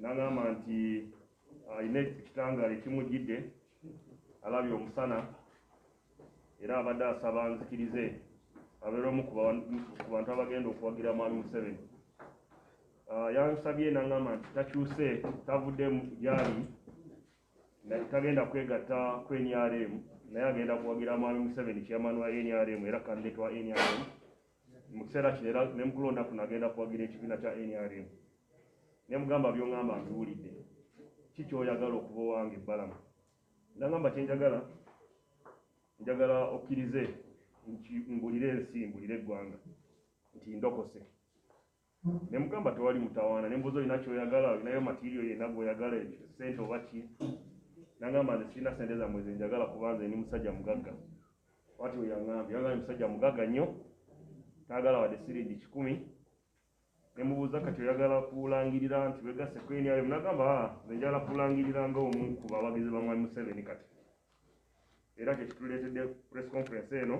nangamba nti alina ah, ekitangaala ekimujjidde alabye omusana era abadde asaba nzikirize abeera omu ku bantu abagenda okuwagira mwami museveni ah, yansabye nangamba nti takyuse tavudde gyali tagenda kwegatta ku nrm naye agenda kuwagira mwami museveni chairman wa nrm era kandidate wa nrm mu kiseera kino era ne mukulonda kuno agenda kuwagira ekibiina kya nrm ne mugamba byongamba mbiwulidde ki kyoyagala okuba owange ebbalamu nagamba kyenjagala njagala okkirize mbulire ensi mbulire eggwanga nti ndokose nemugamba tewali mutawaana nembuuza olina kyoyagala olinayo matirio yena gwoyagala ekyo sente oba ki nangamba nze sirina sente zamwe zenjagala kubanze ni musajja mugagga wati weyangambye yangambye musajja mugagga nnyo tayagala wadde siringi kikumi nemubuuza kati oyagala kulangirira nti wegase kwenyayo munagamba ah, nze njagala kulangirira nga omu ku bawagizi bamwami museveni kati era kyekituleetedde press conference eno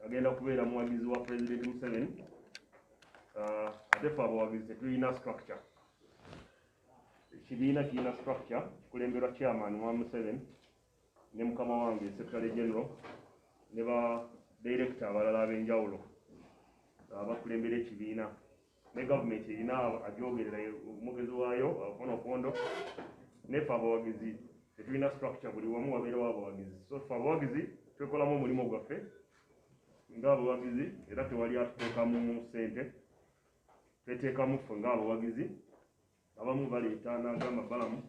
agenda kubeera muwagizi wa president museveni uh, ate fe abawagizi tetulina structure ekibiina kirina structure kikulemberwa chairman wa museveni ne mukama wange secretary general ne ba director abalala ab'enjawulo uh, bakulembera ekibiina ne gavumenti erina agyogerera omwogezi waayo ofuna okondo nefe abawagizi tetulina structure buli wamu wabeerawo abawagizi so fe abawagizi twekolamu omulimu gwaffe ngaabawagizi era tewali atuteekamu sente tweteekamu ffe ngaabawagizi abamu baleeta n'agamba balamu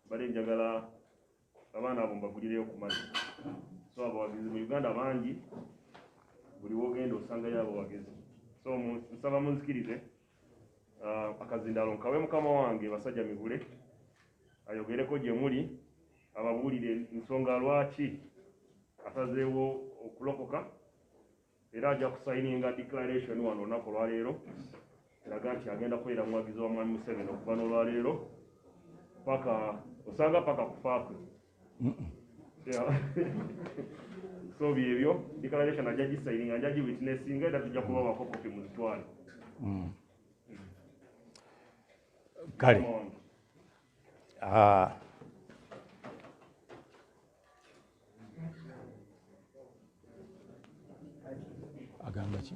bale njagala abaana abo mbagulireyo ku mazzi so abawagizi mu uganda bangi buli wogenda osangayo abawagizi so nsaba munzikirize ah, akazindaalo nkawe mukama wange basajja mivule ayogereko gye muli ababuulire ensonga lwaki asazeewo okulokoka era ajja kusayininga declaration wano olunaku olwaleero eraga nti agenda kubeera muwagizi wa mwami museveni okuva n'olwaleero paka osanga paka kufaakwe so byebyo declaration ajja gisayininga nja giwitnessinga era tujja kubawako kopi muzitwale mm. kale ah. agamba ki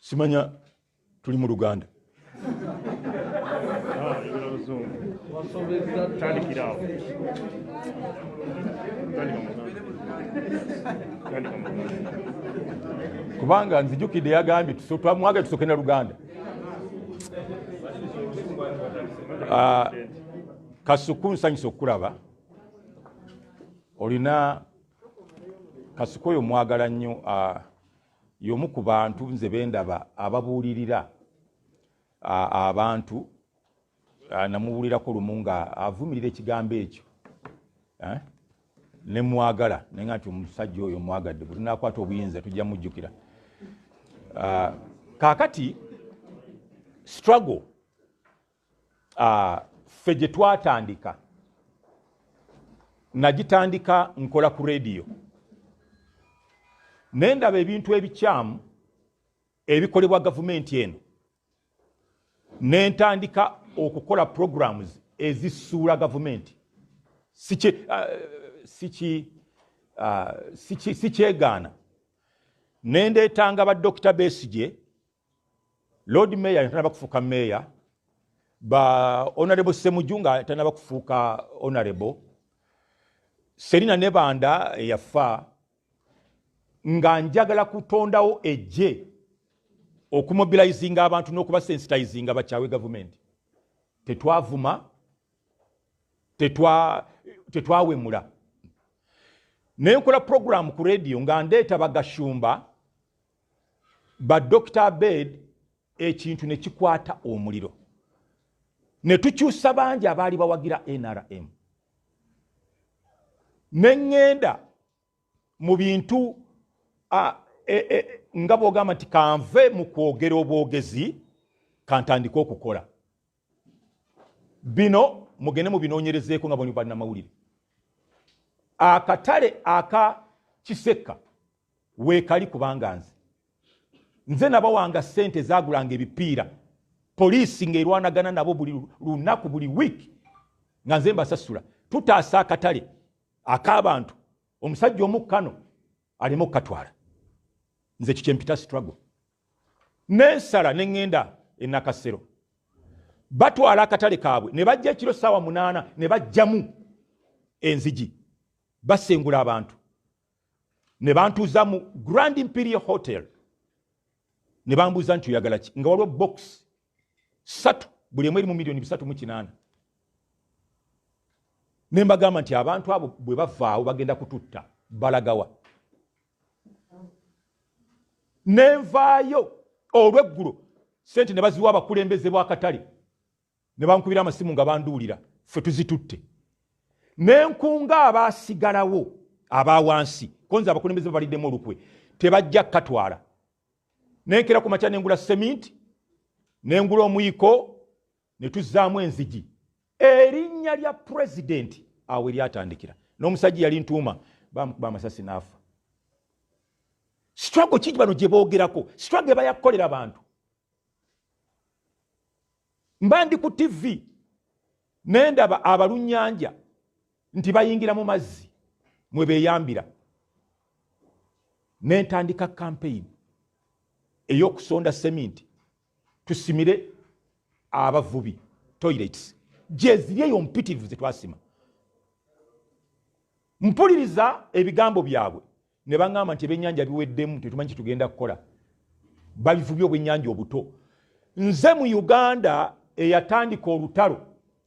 simanya tuli mu luganda kubanga nzijukidde yagambye twamwagala tusoke na luganda ah, kasuku nsanyusa okukulaba olina kasiko oyo mwagala nnyo uh, yomu ku bantu nze bendaba ababuulirira uh, abantu uh, namubuulirako lumu nga avumirira ekigambo ekyo eh? nemwagala naye nga nti omusajja oyo mwagadde bwetunakwata obuyinza tujja mujjukira uh, kakati struggle Ah, ffe gye twatandika nagitandika nkola ku rediyo naye ndaba ebintu ebikyamu ebikolebwa gavumenti eno ne ntandika okukola programs ezisuula gavumenti ah, ah, sikyegaana ne ndeetanga badokita besigye lord mayor nga tanaba kufuuka mayor ba honorable semuju nga tanaba kufuuka honorable serina nebanda eyafa nga njagala kutondawo ejje okumobilizinga abantu n'okubasensitizinga bakyawe gavumenti tetwavuma tetwawemula naye nkola puroguramu ku rediyo nga ndeeta bagashumba ba dr abed ekintu ne kikwata omuliro ne tukyusa bangi abaali bawagira nrm ne ŋŋenda mu bintu e, e, nga bwogamba nti kanve mu kwogera obwogezi kantandike okukola bino mugende mubinoonyerezeeko nga boni bannamawulire akatale aka kisekka weekali kubanga nze nze nabawanga ssente zagulanga ebipiira poliisi ng'erwanagana nabo buli lunaku buli wiiki nga nze mbasasula tutaasa akatale ak'abantu omusajja omu kano aleme okukatwala nze kikyempita struggle nensala neŋŋenda enakasero batwala akatale kaabwe ne bajja ekiro saawa munaana ne bajjamu enzigi basengula abantu ne bantuuza mu grand imperial hotel ne bambuuza nti oyagala ki nga waliwo box satu buli emu eri mu miliyoni bisatu mu kinaana ne mbagamba nti abantu abo bwe bavaawo bagenda kututta balagawa nenvaayo olweggulo sente ne baziwa abakulembeze bwakatale ne bankubira amasimu nga banduulira ffe tuzitutte nenkunga abaasigalawo aba wansi konza abakulembeze babaliddemu olukwe tebajja kukatwala nenkera ku makya nengula seminti nengula omuyiko ne tuzzaamu enzigi erinnya lya pulezidenti awo eryatandikira n'omusajja yali ntuuma bamukuba amasasi n'afa sitwago ki bano gye boogerako sitwago eba yakukolera bantu mba ndi ku tivi naye ndaba abalunyanja nti bayingira mu mazzi mwe beeyambira nentandika kampeyini ey'okusonda seminti tusimire abavubi toilets gyeziri eyo mpitirivu zetwasima mpuliriza ebigambo byabwe ne baŋamba nti ebyenyanja biweddemu tetumanyi kyetugenda kukola babivubi obwenyanja obuto nze mu uganda eyatandika olutalo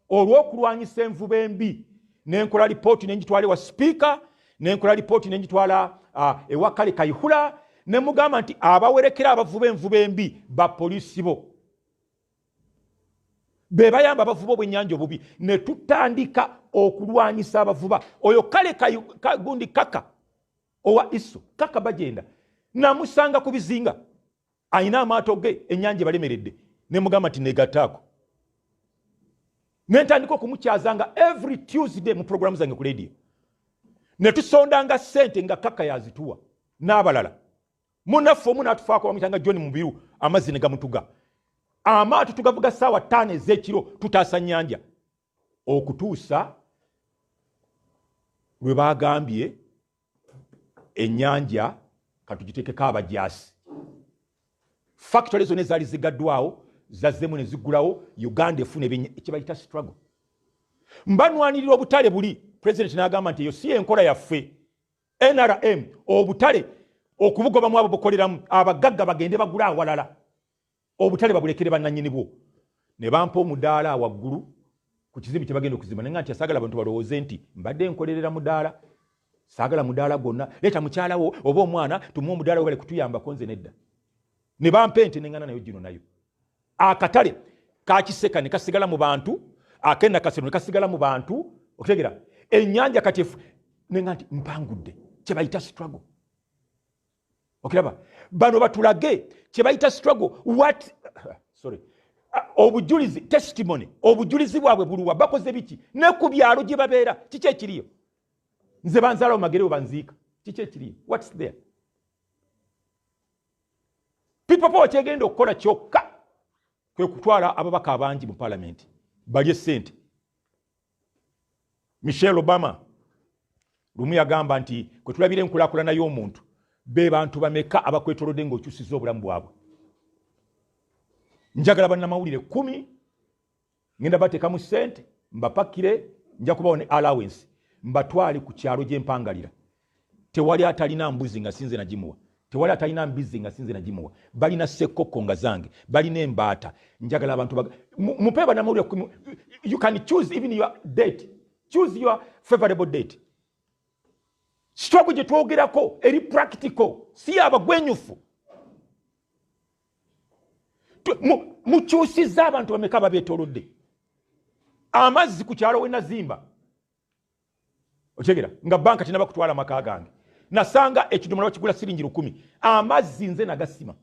olw'okulwanyisa envuba embi nenkola lipooti nengitwala ewa sipiika nenkola lipooti nengitwala uh, ewa kale kaihula nemugamba nti abawerekera abavuba envuba embi bapoliisi bo bebayamba abavuba obwenyanja obubi netutandika okulwanyisa abavuba oyo kale kagundi kaka owa iso kaka bagenda namusanga ku bizinga alina amaato ge enyanja ebalemeredde nemugamba nti negataako nentandika okumukyazanga every tuesday mu programu zange ku ledio netusondanga sente nga kaka yazituwa n'abalala munaffe omu natufaako bamuyitanga john mubiru amazzi negamutuga amaato tugavuga saawa taano ezekiro tutaasa nyanja okutuusa lwe baagambye ennyanja katugitekeko abajaasi fakitole zona ezaali zigaddwawo zazzemu ne ziggulawo uganda efuna ekyebayita struggle mbanwanirira obutale buli pulezidenti n'agamba nti eyo si enkola yaffe nrm obutale okubugobamu abo bukoleramu abagagga bagende bagula awalala obutale babulekere bananyini bwo ne bampa omudaala awaggulu ku kizimbe kye bagenda okuzimba naye nga nti asaagala bantu balowooze nti mbadde nkolerera mudaala saagala mudaala gwonna leeta mukyalawo oba omwana tumuwa omudaala webale kutuyambako nze nedda ne bampa ente nengana nayo gino nayo akatale kakiseka ne kasigala mu bantu akenda kasero ne kasigala mu bantu okutegera ennyanja kati nenga nti mpangudde kyebayita struggle okiraba bano batulage kyebayita struggle what sorry obujulizi testimony obujulizi bwabwe buluwa bakoze biki ne ku byalo gye babeera kiki ekiriyo nze banzaala omagere webanziika kiki ekiriyo whats there pipopa wakyegenda okukola kyokka kwe kutwala ababaka abangi mu palamenti balye sente michelle obama lumu yagamba nti kwetulabira enkulakulana y'omuntu be bantu bameka abakwetolodde ngaokyusiza obulamu bwabwe njagala bannamawulire kumi ngenda bateekamu sente mbapakire nja kubawa ne allowance mbatwale ku kyalo gyempangalira tewali atalina mbuzi nga sinze nagimuwa tewali atalina mbizzi nga sinze nagimuwa balina sekkokko nga zange balina embaata njagala abantu mupe banamawulire kumi you can choose even your date choose your favorable date sitogo gye twogerako eri practical si abagwenyufu mukyusizza abantu bameka babetolodde amazzi ku kyalo wenazimba okitegera nga banka tinaba kutwala maka gange nasanga ekidomola bakigula siringi lukumi amazzi nze nagasima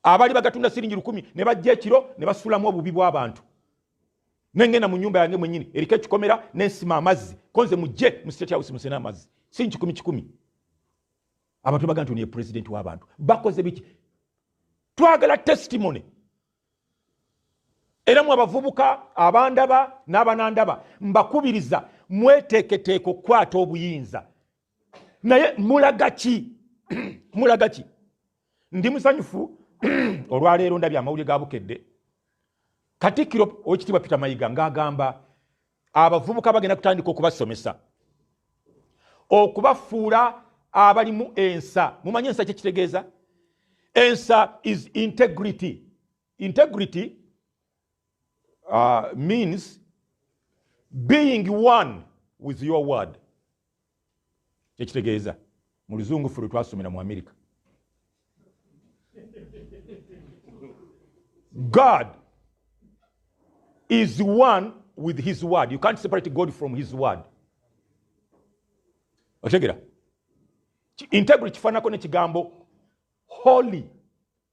abali bagatunda siringi lukumi ne bajja ekiro ne basulamu obubi bw'abantu nengenda mu nyumba yange mwenyini eriko ekikomera nensima amazzi konze mujje mu state house musena amazzi si nkikumi kikumi abantu baga nti oniye pulezidenti w'abantu bakoze biki twagala testimony era mwe abavubuka abandaba n'abanandaba mbakubiriza mweteeketeeka okukwata obuyinza naye mulaga ki mulaga ki ndi musanyufu olwaleero ndabye amawulire ga bukedde katikkiro owekitiibwa peter mayiga ng'agamba abavubuka bagenda kutandika okubasomesa okubafuula abalimu ensa mumanye ensa kyekitegeeza ensa is integrity integrity uh, means being one with your word kyekitegeeza mu luzungu ffe lwe twasomera mu amerika god is one with his word you can't separate god from his word okitegera integrity kifaananako nekigambo holy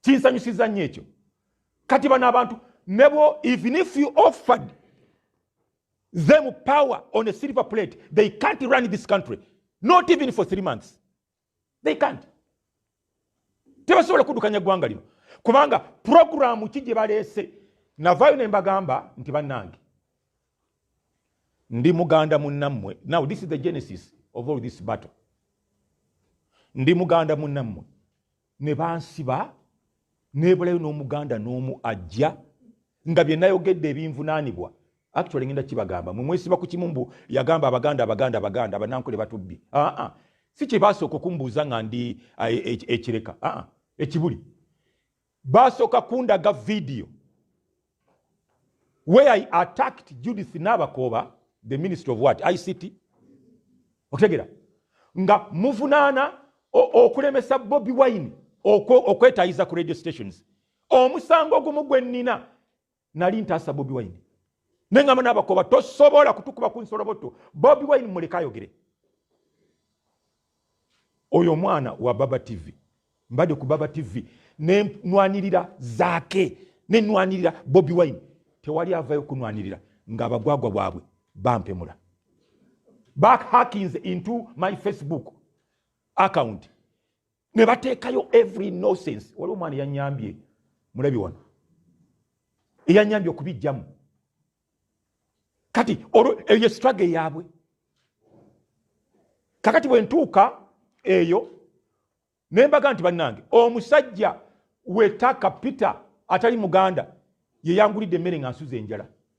kinsanyusiza nnyo ekyo kati bano abantu nebo even if you offered them power on a silver plate they can't run this country not even for three months they can't tebasobola kuddukanya ggwanga lino kubanga puroguramu ki gye baleese navayo ne mbagamba nti bannange ndi muganda munnammwe now this is the genesis of all this battle ndi muganda munnammwe ne bansiba nebulayo n'omuganda n'omu ajja nga bye nayogedde ebinvunaanibwa actually ngenda kibagamba mwe mwesiba ku kimu mbu yagamba abaganda abaganda abaganda abanankole batubbi aa si kye basooka okumbuuza nga ndi e, e, ekireka aa ekibuli Baasooka kundaga vidiyo where I attacked Judith Nabakooba, the minister of what? ICT? Otegera. Nga muvunaana okulemesa Bobi Wine okwetayiza ku radio stations. Omusango ogumu gwe nnina nali ntaasa bobi wine nengamba nabakoba tosobola kutukuba ku nsoloboto bobi wine muleka ayogere oyo omwana wa baba tv mbadde ku baba tv nenwanirira zaake nenwanirira bobi wine tewali avayo kunwanirira nga abagwagwa bwabwe bampemula back hackings into my facebook account ne bateekayo every nonsense waliwo omwana eyanyambye mulabi wano eyanyambye okubijjamu kati olwo eyo struggle yaabwe kakati bwe ntuuka eyo ne mbaga nti bannange omusajja wetaka peter atali muganda yeyangulidde emmere nga nsuza enjala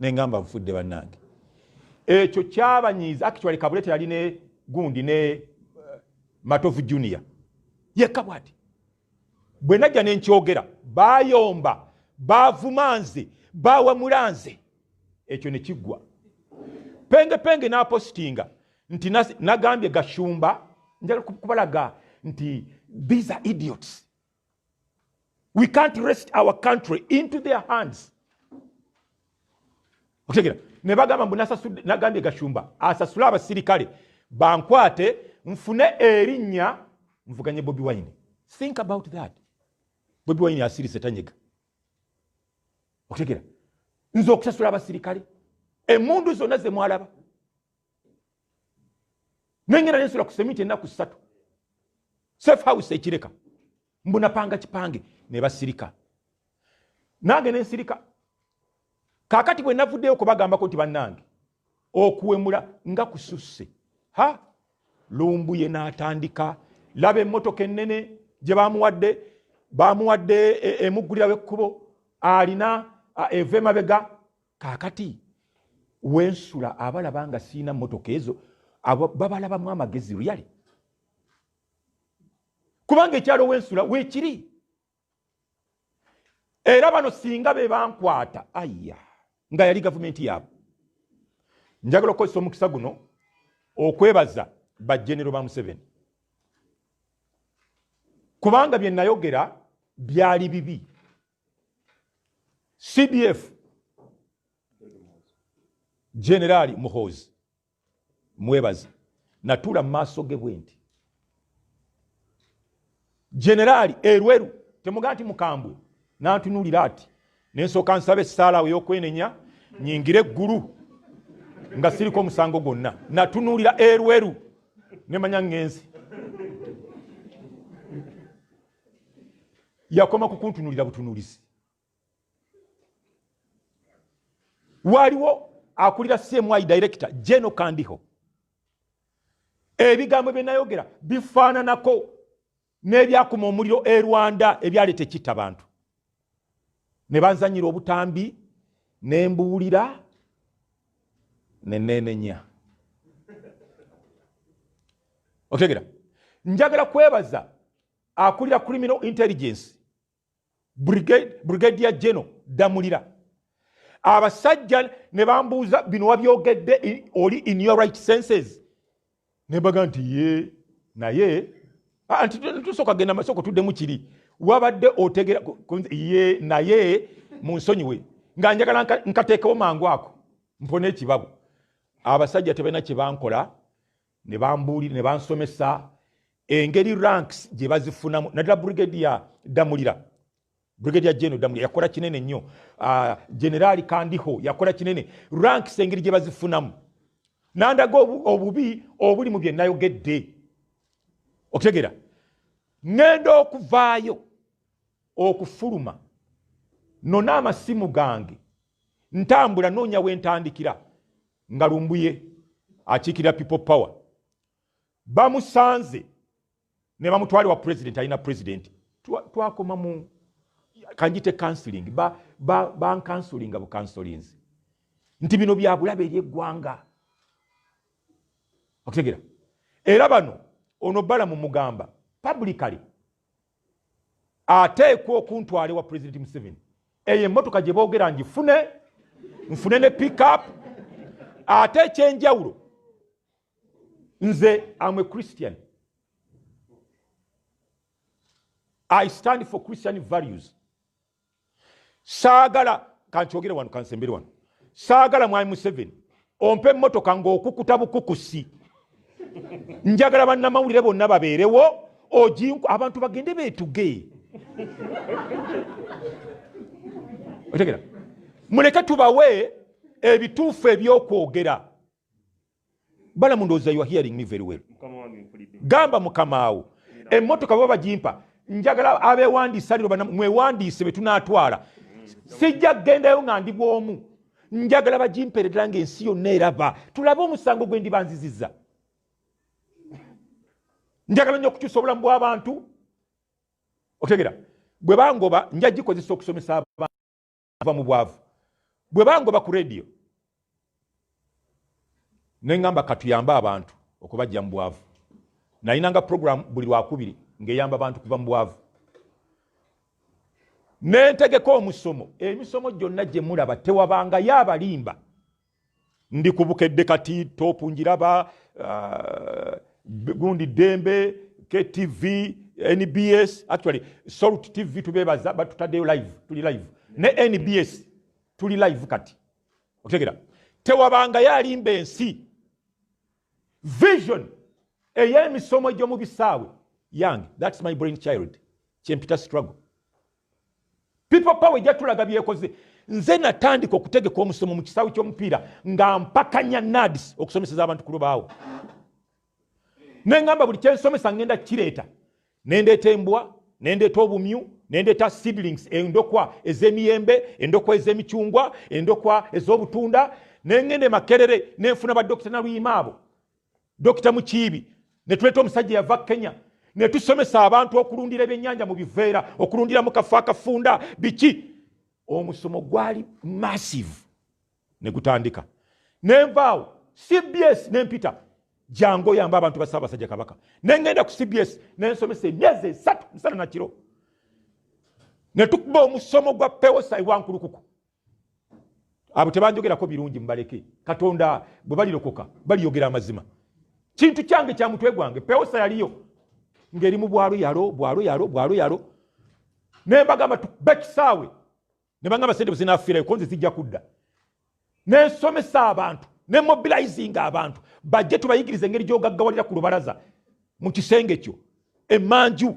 nengamba nfudde bannange ekyo kyabanyiiza actually kabulete yali ne gundi ne eh, matovu junior yekka bwati bwe najja ne nkyogera bayomba bavuma nze bawamula nze ekyo ne kiggwa pengepenge n'apositinga nti nagambye gashumba njagala kubalaga nti these are idiots we can't rest our country into their hands okutegera ne bagamba mbu nagambye gashumba asasule abasirikale bankwate nfune erinnya nvuganye bobi wine think about that bobi wine asirise tanyega okutegera nze okusasula abasirikale emundu zonna zemwalaba nengera nensula ku semiti enaku satu safe house ekireka mbunapanga kipange nebasirika nange nensirika kakati bwe navuddeyo kubagambako nti bannange okuwemula nga kususse ha lumbuye n'atandika laba emmotoka ennene gye bamuwadde bamuwadde e, emuggulirawo ekkubo alina eva emabega kaakati wensula abalaba nga siina motoka ezo babalabamu amagezi luyale kubanga ekyalo wensula wekiri era bano singa be bankwata aya nga yali gavumenti yaabwe njagala okukozesa omukisa guno okwebaza bajenero ba museveni kubanga bye nayogera byali bibi cdf generaali muhoozi mwebazi natuula mu maaso ge bwe nti generaali erweru temuga nti mukambwe nantunuulira ati nensooka nsaba essaalaawo ey'okwenenya nyingire eggulu nga siriko omusango gwonna natunuulira erweru nemanya ngenzi yakoma kukuntunulira butunulizi waliwo akulira cmi director jeno kandiho ebigambo byenayogera bifaananako n'ebyakuma omuliro e rwanda ebyaleeta ekitta bantu ne banzanyira obutambi ne mbuulira ne neenenya otegera njagala kwebaza akulira criminal intelligence brigadier general damulira abasajja ne bambuuza bino wabyogedde oli in your right senses nebaga nti ye naye ah, nti tusooka genda masoko tuddemu kiri wabadde otegera ye naye mu nsonyiwe nga njagala nkateekewo mangu ako mpona ekibabu abasajja tebalina kyebankola nebambuulira ne bansomesa engeri ranks gye bazifunamu naddala brigadier damulira Brigadier General Damuli yakola kinene nnyo. Uh, General Kandiho yakola kinene. Ranks engeri gye bazifunamu. Nandaga obubi obuli mu bye nayogedde. Okutegera. Ngenda okuvaayo okufuluma nona amasimu gange ntambula noonya we ntandikira nga lumbuye akiikirira people power bamusanze nebamutwala wa president alina president twakoma mu kanjite counseling bankansulinga ba, ba bukansolinzi nti bino byabulabe eri eggwanga okutegera era bano ono bala mu mugamba publicly ateekwa okuntwala ewa president museveni eyo emotoka gye boogera ngifune nfune ne pickup ate ekyenjawulo nze am a christian i stand for christian values saagala kankyogere wano kansembere wano saagala mwami museveni ompe emmotoka ngaokukuta bukukusi njagala bannamawulire bonna babeerewo ojinku abantu bagende betuge otegera muleke tubawe ebituufu ebyokwogera balamu ndowooza you are hearing me very well gamba mukamaawo emmotoka baba bagimpa njagala abewandiisa liro mwewandiise betunatwala sijja kugendayo nga ndi bwomu njagala bagimpere ddala nga ensi yonna eraba tulabe omusango gwe ndibanziziza njagala nyo okukyusa obulamu bw'abantu otegera bwe bangoba nja gikozesa okusomesa abantu ava mu bwavu bwe bangoba ku radio ne ngamba katuyambe abantu okubajja mu bwavu nalinanga program buli lwakubiri ng'eyamba abantu kuva mu bwavu nentegeka omusomo emisomo gyonna gye mulaba tewabangayo abalimba ndi ku bukedde kati topu njiraba uh, gundi dembe ktv nbs actually salt tv tubebaza batutaddeyo live tuli live ne nbs tuli live kati otegera tewabanga yalimba ensi vision ey'emisomo egy'omu bisaawe yange thats my brain child kyempita struggle people power ejja tulaga byekoze nze natandika okutegeka omusomo mu kisaawe ky'omupiira nga mpakanya nadis okusomeseza abantu ku lubaawo nengamba buli kyensomesa ngenda kireeta nendeeta embwa nendeeta obumyu nendeeta seedlings endokwa ez'emiyembe endokwa ez'emicungwa endokwa ez'obutunda nengenda emakerere nenfuna badokita naluyima abo Dokita Mukiibi ne tuleeta omusajja yava Kenya ne tusomesa abantu okulundira ebyennyanja mu biveera okulundira mu kafo akafunda biki omusomo gwali massive ne gutandika nenvaawo cbs nempita jangu oyamba abantu ba ssaabasajja kabaka nengenda ku cbs nensomesa emyezi esatu musana nakiro ne tukuba omusomo gwa pewosa ewankulukuku abo tebanjogerako birungi mubaleke katonda bwe balirokoka baliyogera amazima kintu kyange kya mutwe gwange pewosa yaliyo ngeri mu bwalo yalo bwalo yalo bwalo yalo naye mbagamba bekisaawe ne bangamba sente buzinafiirayo konze zijja kudda nensomesa abantu ne mobilizinga abantu bajje tubayigiriza engeri gyogaggawalira ku lubalaza mu kisenge kyo emanju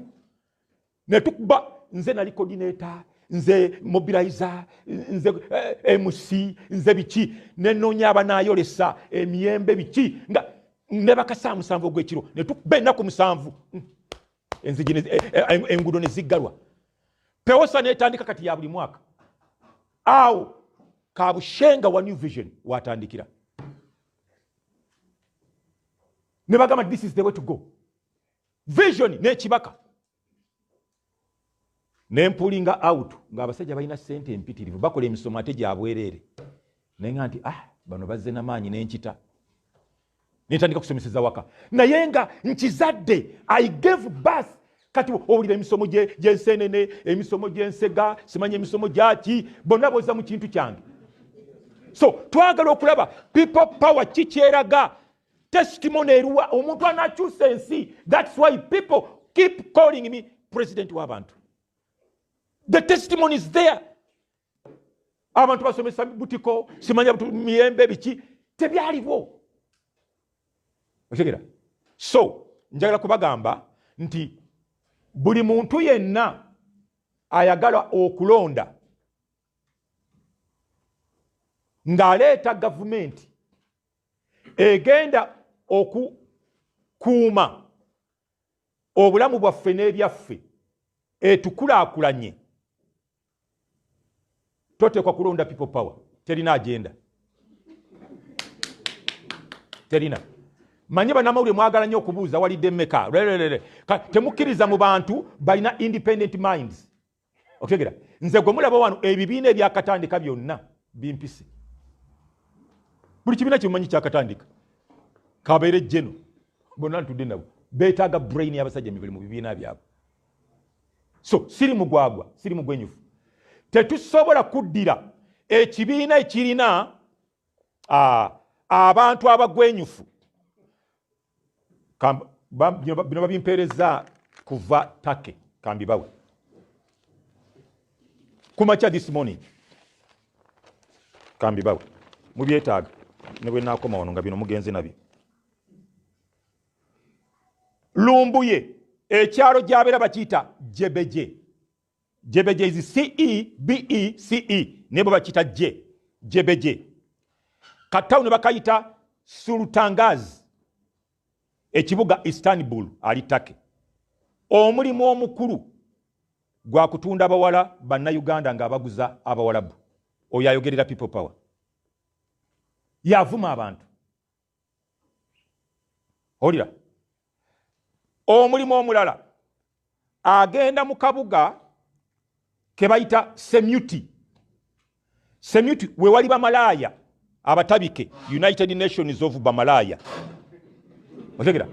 netukuba nze nali coordinator nze mobilizer nze eh, mc nze biki nenoonya abanayolesa emiyembe biki nga nebakasaa musanvu ogwekiro netukuba enaku musanvu hmm. enzigi eh, eh, engudo neziggalwa pewosa netandika kati ya buli mwaka awo kabushenga wa new vision watandikira nebagamba this is the way to go vision n'ekibaka ne mpulinga out ng'abasajja balina ssente empitirivu bakola emisomo ate gyabwereere naye nga nti ah bano bazze namaanyi nenkita nentandika kusomeseza waka naye nga nkizadde i gave bus kati owulira emisomo gyensenene emisomo gyensega simanya emisomo gyaki bonna boza mu kintu kyange so twagala okulaba people power kikyeraga testimony eruwa omuntu anakyusa ensi thats why people keep calling me president wabantu the testimony is there abantu basomesa butiko simanya miyembe biki tebyaliwo otegera so njagala kubagamba nti buli muntu yenna ayagala okulonda ng'aleeta gavumenti egenda okukuuma obulamu bwaffe n'ebyaffe etukulaakulanye toteekwa kulonda people power terina agenda terina manye banamawulire mwagala nyo okubuuza walidde meka temukkiriza mu bantu balina independent minds okutegera nze gwe mulaba wano ebibiina ebyakatandika byonna bimpise buli kibiina kyemumanyi kyakatandika kabeere jeno bonna ntudde nabo betaaga brain yabasajja mibali mu bibiina byabwe so siri mugwagwa siri mugwenyufu tetusobola kuddira ekibiina ekirina abantu abagwenyufu bino babimpeereza kuva take kambibawe kumakya this morning kambibawe mubyetaaga ne bwe naakoma wano nga bino mugenze nabyo lumbuye ekyalo gyabeera bakiyita jebeje jebeje izi ce bece nebo bakita je jebeje katawuni bakayita sultangaz ekibuga istanbul ali take omulimu omukulu gwa kutunda abawala bannayuganda ng'abaguza abawalabu oyo ayogerera people power yavuma abantu olira omulimu omulala agenda mu kabuga ke bayita semuti semuti we wali bamalaaya abatabike united nations of bamalaaya otegera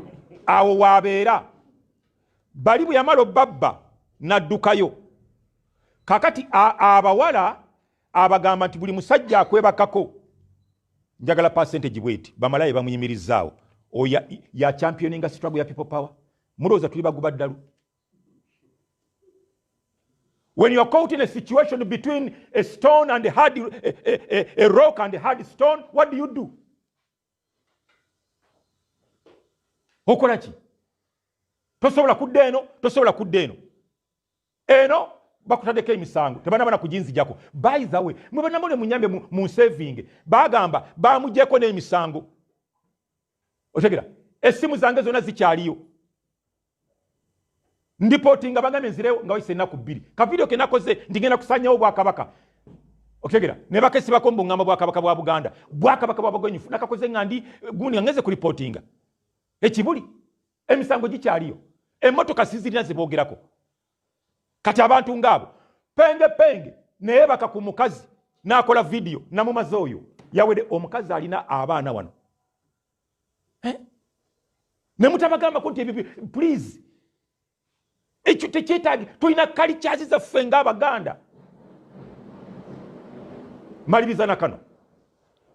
awo waabeera bali bwe yamala obbabba n'addukayo kakati abawala abagamba nti buli musajja akwebakako njagala percentage bweti bamalaye bamuyimirizaawo oyo ya championinga struggle ya people power mulowooza tuli baguba ddalu when you are caught in a situation between a stone and a hard a, a, a, a rock and a hard stone what do you do okola ki tosobola kudda eno tosobola kudda eno eno bakutadeko emisango tebanabana kujinzijako by the way mwe banamole munyambe mu saving bagamba bamujeko n'emisango otegera esimu zange zona zikyaliyo ndipoti nga bagambye nzirewo nga wayise ennaku bbiri kavidiyo kenakoze ndigenda kusanyawo obwakabaka okitegera ne bakesibako mbuŋŋamba bwakabaka bwa buganda bwakabaka bwa bagwenyufu nakakoze nga ndi gundi nga ngeze ku lipotinga ekibuli emisango gikyaliyo emotoka sizirina zebogerako kati abantu ngaabo penge penge naye baka ku mukazi nakola vidiyo namumaze oyo yawede omukazi alina abaana wano eh? nemutabagambako nti ebyo please ekyo tekyetaagi tulina kalikyazi zaffe ngaabaganda maliriza na kano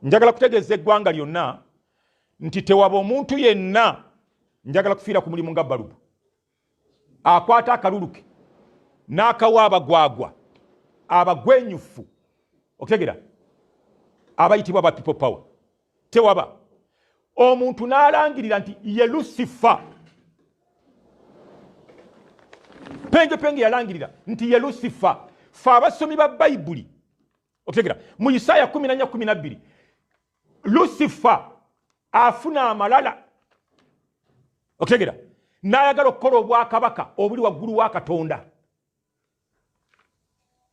njagala kutegeeza eggwanga lyonna nti tewaba omuntu yenna njagala kufiira ku mulimu nga balubu akwata akaluluke n'akawa abagwagwa abagwenyufu okutegera abayitibwa ba people power tewaba omuntu n'alangirira nti ye lusifa penge penge yalangirira nti ye lusifa fe abasomi ba bayibuli okitegera mu isaaya 1412 lusifa afuna amalala okitegera n'ayagala okukola obwakabaka obuli waggulu wa katonda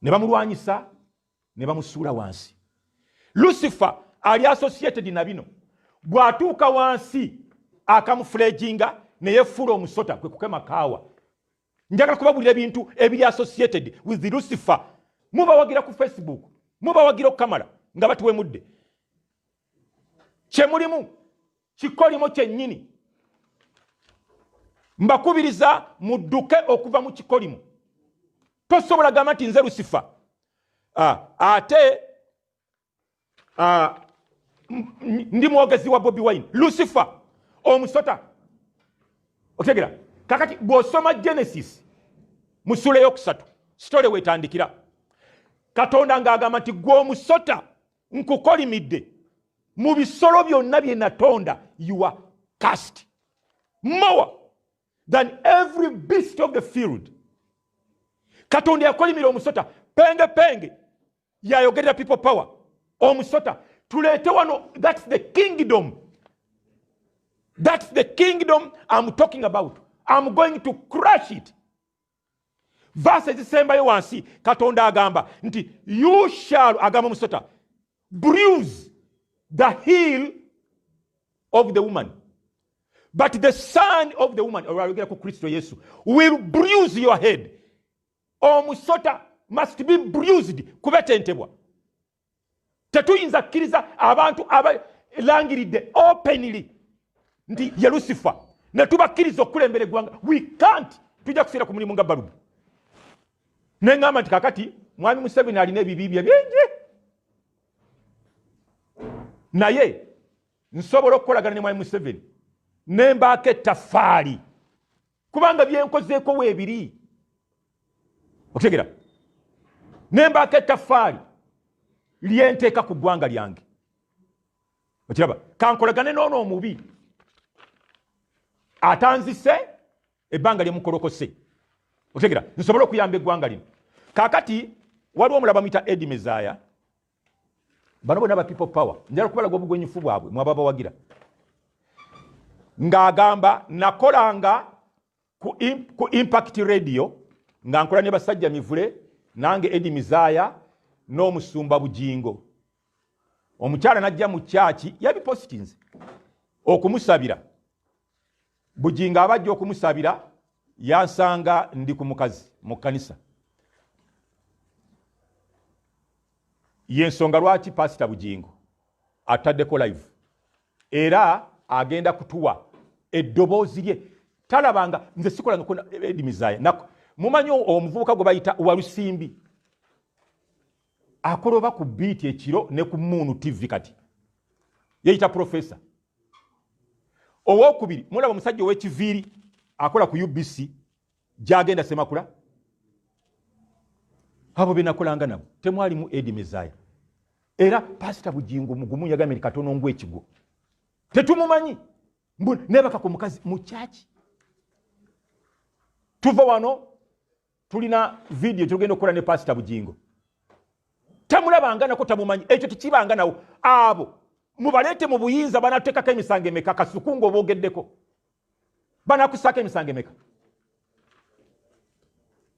ne bamulwanyisa ne bamusuula wansi lucifer ali associated na bino bw'atuuka wansi akamufuleginga neyefuula omusota kwe kukema kaawa njagala kubabulira ebintu ebiri associated with the lucifer mubawagira ku facebook mubawagira okukamala nga batuwemudde kyemulimu kikolimo kyennyini mbakubiriza mudduke okuva mu kikolimo tosobola gamba nti nze lusifa ah, ate ah, ndi mwogezi wa bobi wine lusifa omusota okitegera kakati bw'osoma genesis mu sula eyokusatu sitole wetandikira katonda ng'agamba nti gwe omusota nkukolimidde mu bisolo byonna bye natonda you are cast more than every beast of the field katonda yakolimira omusota penge penge yayogerera people power omusota tuleete wano thats the kingdom thats the kingdom am talking about am going to crush it vaasi ezisembayo wansi katonda agamba nti you shall agamba musota bruise the heel of the woman but the son of the woman olwayogera ku kristo yesu will bruise your head omusota must be bruised kubetentebwa tetuyinza kkiriza abantu abalangiridde openly nti ye lusifa ne tubakkiriza okukulembera eggwanga we can't tujja kufiira ku mulimu nga balubu ne ŋŋamba nti kakati mwami museveni alina ebibi bye bingi naye nsobola okukolagana ne mwami museveni ne mbaako ettafaali kubanga byenkozeeko weebiri okutegera ne mbaako ettaffaali lyenteeka ku ggwanga lyange okiraba kankolagane noono omubi atanzise ebbanga lyemukolokose otegera nsobole okuyamba eggwanga lino kakati waliwo omulaba muyita edi mezaya bano bona ba people power njala kubalaga obugwenyufu bwabwe mwaba bawagira ng'agamba nakolanga ku, in, ku impact radio nga nkola ne basajja mivule nange edi mizaya n'omusumba bujingo omukyala najja mu kyaki yabipositinze okumusabira Bugingo abajja okumusabira yansanga ndi ku mukazi mu kkanisa. Y'ensonga lwaki Paasita Bugingo ataddeko live era agenda kutuwa eddoboozi lye talabanga nze sikola nokona edimizaaya nako mumanyi omuvubuka gwe bayita walusimbi akoloba ku biiti ekiro ne ku muunu tv kati yeyita profesa owokubiri mulaba omusajja owekiviiri akola ku ubc gyagenda semakula abo benakolanga nabo temwalimu edi mezaya era pasita bujingo mugumu yagambye ni katono ngu ekigwo tetumumanyi nebaka ku mukazi mukyaki tuva wano tulina vidiyo gyetugenda okukola ne pasita bugingo tamulabanga nako tamumanyi ekyo tekibanga nawo abo mubaleete mu buyinza banatekako emisango emeka kasuku nga obogeddeko banakusako emisango emeka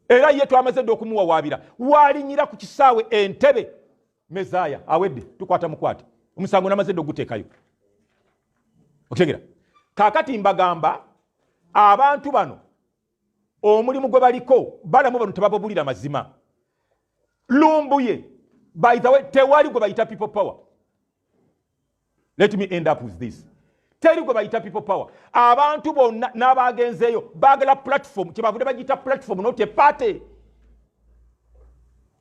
era ye twamaze dde okumuwawaabira waalinyira ku kisaawe entebe mezaaya awedde tukwata mukwate omusango namaze dde oguteekayo okutegera kakati mbagamba abantu bano omulimu gwe baliko balamu bano tebababulira mazima lumbuye by the way tewali gwe bayita people power let me end up with this teri gwe bayita people power abantu bonna n'abaagenzeeyo baagala platform kyebavudde bagiyita platform not a party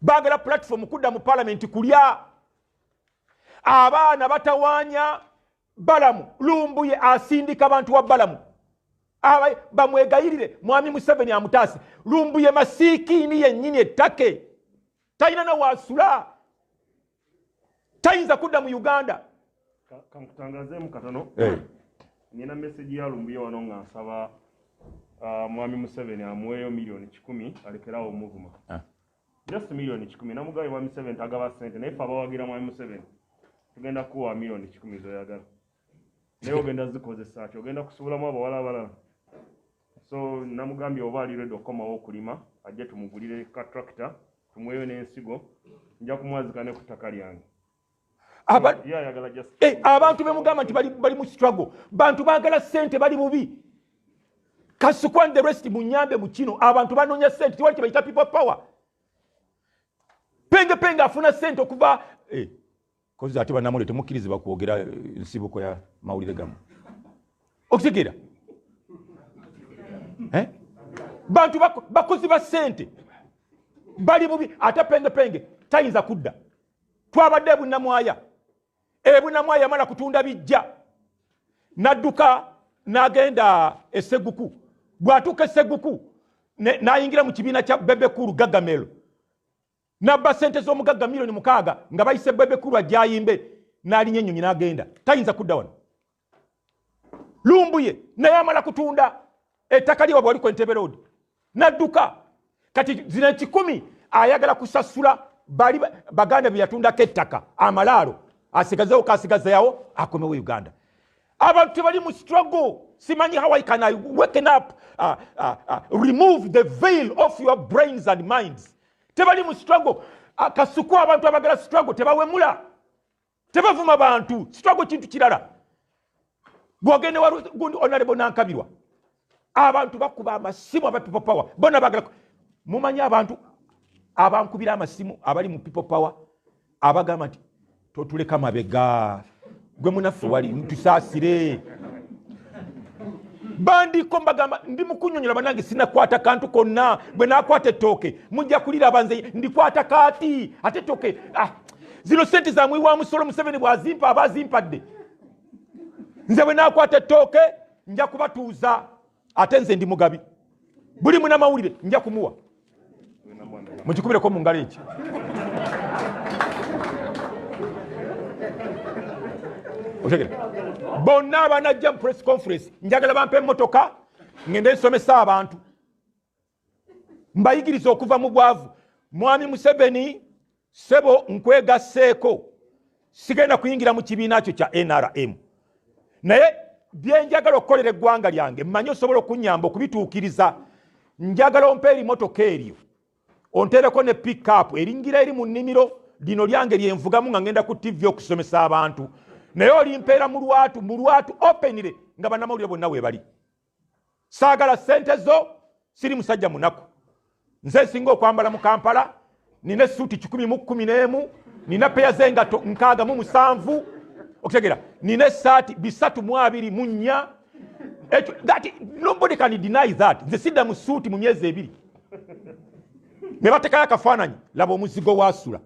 baagala platform kudda mu palamenti kulya abaana batawanya balamu lumbuye asindika bantu wa balamu bamwegayirire mwami museveni amutaase lumbuye masiikiini yennyini ettake talina nawaasula tayinza kudda mu uganda kankutangazeemu katono eh. nina meseji ya lumbuye wano nga nsaba ah, mwami museveni amuweeyo miliyoni kikumi alekerawo omuvuma ah. just million kikumi namugabe mwami seven tagaba sente naye fe abawagira mwami museven tugenda kuwa million kikumi zoyagala naye ogenda zikozesa ki ogenda kusubulamu abawala abalala so namugambye oba ali redi okukomawo okulima ajje tumugulire ka tractor tumweyo n'ensigo nja kumwazika ne ku ttaka lyange Eh, abantu bemugamba nti bali mu struggle bantu bagala sente bali bubi kasukwan the rest munyambe mukino abantu banonya sente tiwali kibaita people power penge penge afuna sente okuva eh, kozi ate banamule temukkirizibwa kwogera eh, nsibuko ya mawulire gamu okitegeera bantu bakozi ba sente bali bubi ate penge penge tayinza kudda twabadde ebunamwaya ebunamwaya yamala kutunda bijja nadduka nagenda eseguku bwatuuka eseguku nayingira mu kibiina kya bebekulu gagamelo nabba sente z'omugagga milioni mukaaga nga bayise bebekulu ajayimbe nalinya ennyonyi nagenda tayinza kudda wano lumbuye naye amala kutunda ettaka lye wabwali kwentebe road nadduka kati zina ekikumi ayagala kusasula bali baganda byeyatundako ettaka amalaalo asigazewo kasigazayawo akomewo uganda abantu tebali mu struggle simanyi how i can i waken up uh, uh, uh, remove the veil of your brains and minds tebali mu struggle uh, kasuku abantu abagala struggle tebawemula tebavuma bantu sitwago kintu kirala gwogende wagundi onalebo nankabirwa abantu bakuba amasimu aba people power bona bagala mumanyi abantu abankubira amasimu abali mu people power abagamba nti totuleka mabega gwe munaffe wali ntusaasire bandiko mbagamba ndi mukunyonyola banange sinakwata kantu konna bwe nakwata ettooke mujja kuliraba nze ndikwata kaati ate ettooke ah, zino sente zamwi wa musolo museveni bwazimpa aba azimpadde nze bwe nakwata ettooke nja kubatuuza ate nze ndi mugabi buli munamawulire nja kumuwa mukikubireko mu ngalo eki otegera bonna abanajja mu press conference njagala bampa emotoka ngende nsomesa abantu mbayigiriza okuva mu bwavu mwami museveni sebo nkwegasseeko sigenda kuyingira mu kibiina kyo kya nrm naye byenjagala okukolera eggwanga lyange mmanyi osobola okunyamba okubituukiriza njagala ompa erimotoka eryo ontereko ne pickup eringira eri mu nnimiro lino lyange lyenvugamu nga ngenda ku tivi okusomesa abantu naye olimpeera mu lwatu mu lwatu openire nga banamawulire bonna webali saagala sente zo siri musajja munaku nze nsinga okwambala mu kampala nina esuuti kikumi mu kkumi n'emu nina peya zengato nkaaga mu musanvu okutegera nina esaati bisatu mu abiri mu nnya nobody can deny that nze sidda mu suuti mu myezi ebiri ne batekayo akafaananyi laba omuzigo waasula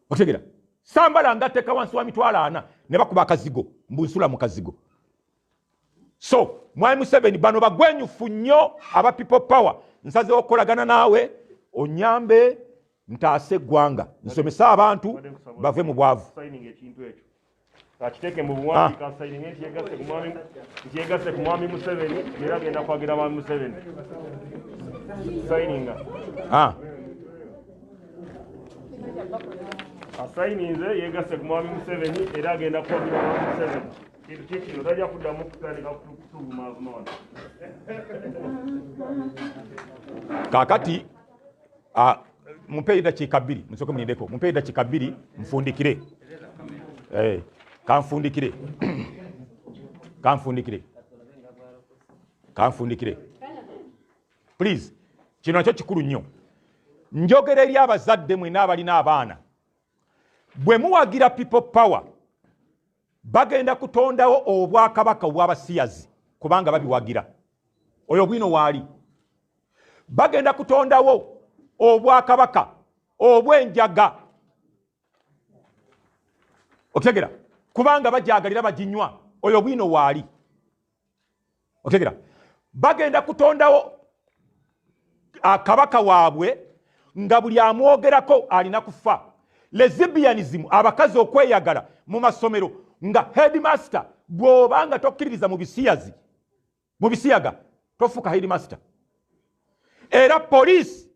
otegera sambala nga teka wansi wa mitwalo ana ne bakuba akazigo mbunsula mu kazigo so mwami museveni bano bagwenyufu nnyo aba people power nsazewo okukolagana naawe onyambe ntaase eggwanga nsomese abantu bave mu bwavu akiteeke mu buwandiika asayininge nti yegasse ku mwami nti yegasse ku mwami museveni era agenda kwagira mwami museveni sayininga asayininze yegasse ku mwami museveni era agenda kwagira mwami museveni kintu kikino tajja kuddamu kutandika kutuvumavuma wano kakati Ah, mumpeeyo eddakiika bbiri musooke munindeko mumpeeyo eddakiika bbiri nfundikire eh, kanfundikire kanfundikire kanfundikire please kino nakyo kikulu nnyo njogera eri abazadde mwena abalina abaana bwe muwagira people power bagenda kutondawo obwakabaka obwabasiyazi kubanga babiwagira oyo bwino waali bagenda kutondawo obwakabaka obwenjaga okitegera kubanga bajagalira bajinywa oyo bwino waali otegera bagenda kutondawo akabaka ah, waabwe nga buli amwogerako alina kufa lezibianism abakazi okweyagala mu masomero nga headmaster gwoba nga tokkiririza mu bisiyazi mu bisiyaga tofuuka headmaster era poliisi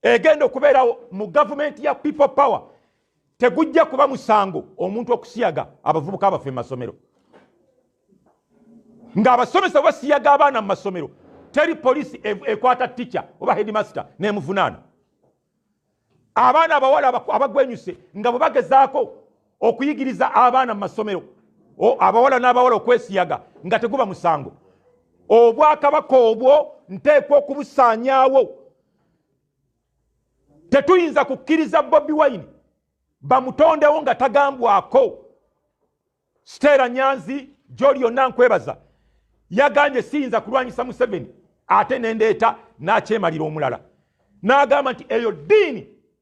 egenda okubeerawo mu gavumenti ya people power tegujja kuba musango omuntu okusiyaga abavubuka abaffe mu masomero ng'abasomesa basiyaga abaana mu masomero teri poliisi e, ekwata tica oba headmaster nemuvunaana abaana abawala abagwenyuse nga bwe bagezaako okuyigiriza abaana mu masomero abawala n'abawala okwesiyaga nga teguba musango obwakabaka obwo nteekwa okubusaanyaawo tetuyinza kukkiriza bobi wine bamutondewo nga tagambwako siteera nyanzi gyoli yonna nkwebaza yagambye siyinza kulwanyisa museveni ate nendeeta n'akyemalira omulala n'agamba nti eyo ddiini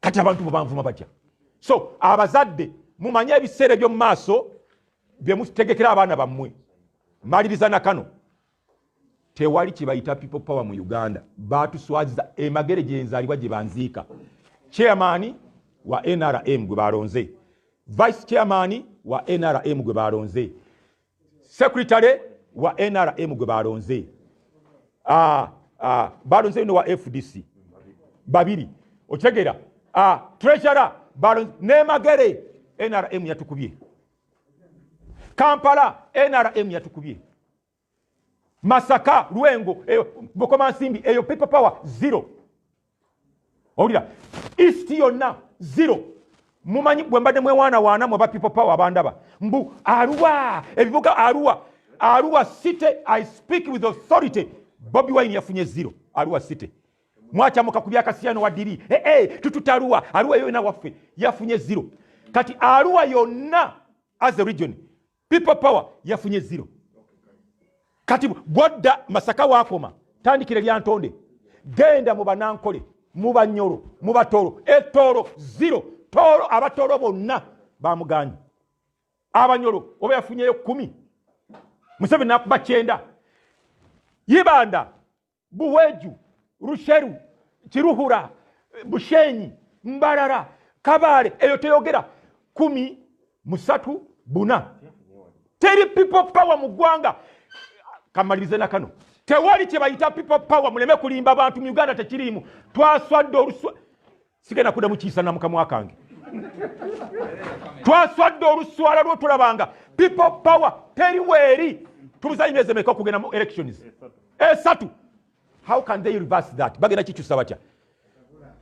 kati abantu bobanvuma batya so abazadde mumanye ebiseera ebyomu maaso byemutegekera abaana bammwe maliriza na kano tewali kyebayita people power mu uganda batuswaziza emagere gyenzalibwa gye banziika chairman wa nrm gwe balonze vice chairman wa nrm gwe balonze secretary wa nrm gwe balonze ah, ah, balonze no wa fdc babiri okitegera ah, treasurer balonze nemagere nrm yatukubye kampala nrm yatukubye masaka lwengo bukomansimbi eyo people power zero owulira east yonna zero mumanyi gwe mbadde mwewaana waana mwe ba people power bandaba mbu aruwa ebibuga aruwa aruwa city i speak with authority bobi wine yafunye zero aruwa city mwacamuka ku byakasiyano wadiri hey, eh, eh, hey, tututa aruwa aruwa yona waffe yafunye zero kati aruwa yonna as a region people power yafunye zero kati gwadda masaka wakoma tandikire lyantonde genda mu banankole mu banyolo mu batoro etoro zero toro abatoro bonna bamuganyi abanyolo oba yafunyeyo kumi museveni nakuba kyenda yibanda buweju rusheru kiruhura bushenyi mbarara kabale eyo teyogera kumi musatu buna teri people power mu ggwanga kamalirize na kano tewali kyebayita people power muleme kulimba bantu mu uganda tekiriimu twaswadde oluswa sigenda kuda mukiyisa namukamwa kange twaswadde oluswala lwo tulabanga people power teri weeri tubuzayo emyezi emeka okugenda mu elections esatu how can they reverse that bagenda kikyusa batya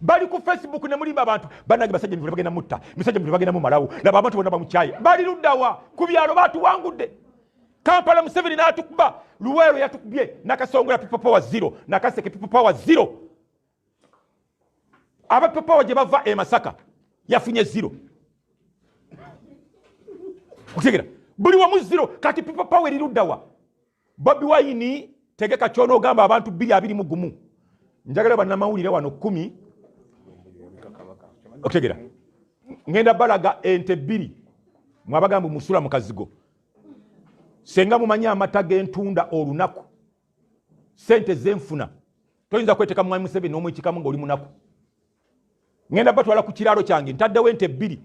bali ku facebook nemulimba abantu banange basajja mivule bagenda mutta misajja mivule bagenda mumalawo laba abantu bona bamukyaye bali luddawa ku byalo batuwangudde kampala museveni natukuba luweero yatukubye nakasongola people power zero nakaseke people power zero abapepawa gye bava e masaka yafunye ziro okutegera buli wamu ziro kati pipa pawa eriruddawa bobi wayini tegeka kyona ogamba abantu biri abiri mu gumu njagala banamawulire wano kumi okutegera ngenda balaga ente bbiri mwabagamba musula mu kazigo senga mumanyi amata gentunda olunaku sente zenfuna toyinza kweteka mwami museveni omwekikamu nga oli munaku ngenda batwala ku kiraalo kyange ntaddewo ente ebbiri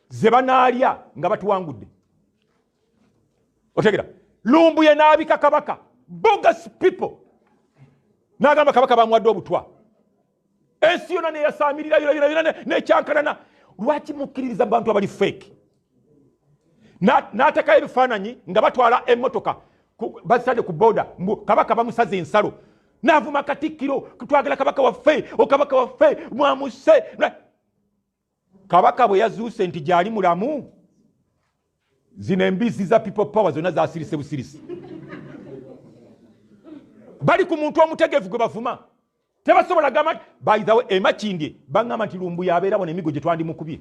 ze banaalya nga batuwangudde otegera lumbuye n'abika kabaka bogus people n'agamba kabaka bamuwadde obutwa ensi yona neyasamirira yonayona nekyankanana lwaki mukkiririza bantu abali feeke n'atekayo ebifaananyi nga batwala emmotoka bazitadde ku booda mbu kabaka bamusaze ensalo n'avuma katikkiro twagala kabaka waffe okabaka waffe mwamuse kabaka bwe yazuuse nti gyali mulamu zino embizzi za people power zonna zasirise busirisi bali ku muntu omutegevu gwe bavuma tebasobola gamba nti baithawe emakindye baŋgamba nti lumbuya abeera bona emigo gye twandimukubye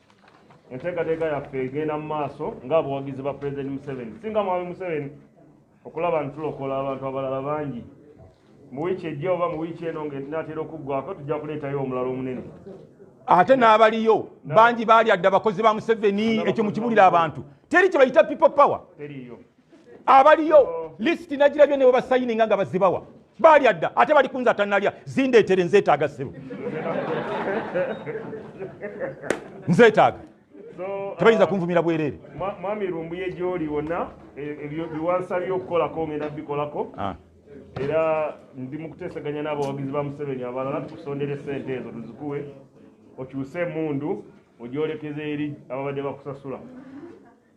enteekateeka yaffe egenda mu maaso ng'abawagizi ba pulezidenti museveni singa mwami museveni okulaba nti tulokola abantu abalala bangi mu wiiki ejja oba mu wiiki eno ng'enaatera okuggwako tujja kuleetayo omulala omunene ate n'abaliyo bangi baali adde abakozi ba museveni ekyo mukibulira abantu teri kye bayita people power abaliyo lisiti nagirabye ne webasayininga nga bazibawa baalya dda ate bali kunza tanalya zindeetere nzeetaaga ssebo nzeetaaga tebayinza uh, kunvumira bwereere mwami lumbuye gyoli wonna e, e, biwansabye okukolako ngenda bikolako ah. era ndi mu kuteeseganya n'abawagizi ba museveni abalala tukusondere sente ezo tuzikuwe okyuse emundu ogyolekeza eri ababadde bakusasula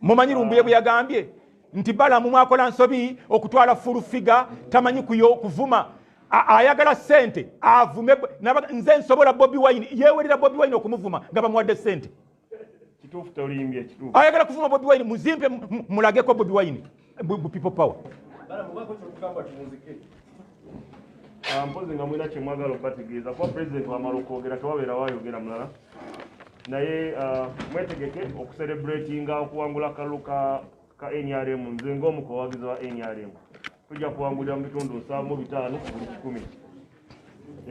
mumanyi lumbuye bwe yagambye nti balamu mwakola nsobi okutwala fulu figa tamanyi kuyo kuvuma ayagala sente avume nze nsobola bobi wine yewelera bobi wine okumuvuma nga bamuwadde sente ayagala kuvuma bobi wine muzimpe mulageko bobi wine bu people power ah, mpozi nga mulina kyemwagala okubategeeza kuba pulezidenti wamala okwogera tewabeera wayogera mulala naye ah, mwetegeke okuserebratinga okuwangula akalulu ka nrm nze ngaomu kubawagizi wa nrm tujja kuwangulira mu bitundu nsanvu bitaano ku buli kikumi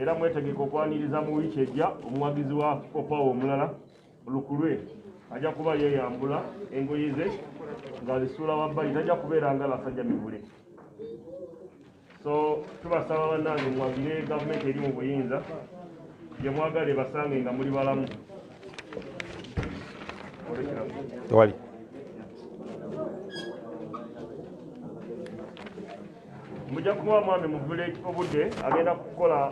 era mwetegeke okwaniriza mu wiiki ejja omuwagizi wa opawa omulala lukulwe ajja kuba yeyambula engoye ze ng'azisuula wabbali tajja kubeera nga basajja mivule so tubasaba bannange mwagire gavumenti eri mu buyinza gye mwagala ebasange nga muli balamu tewali mujja kuba mwami muvule obudde agenda kukola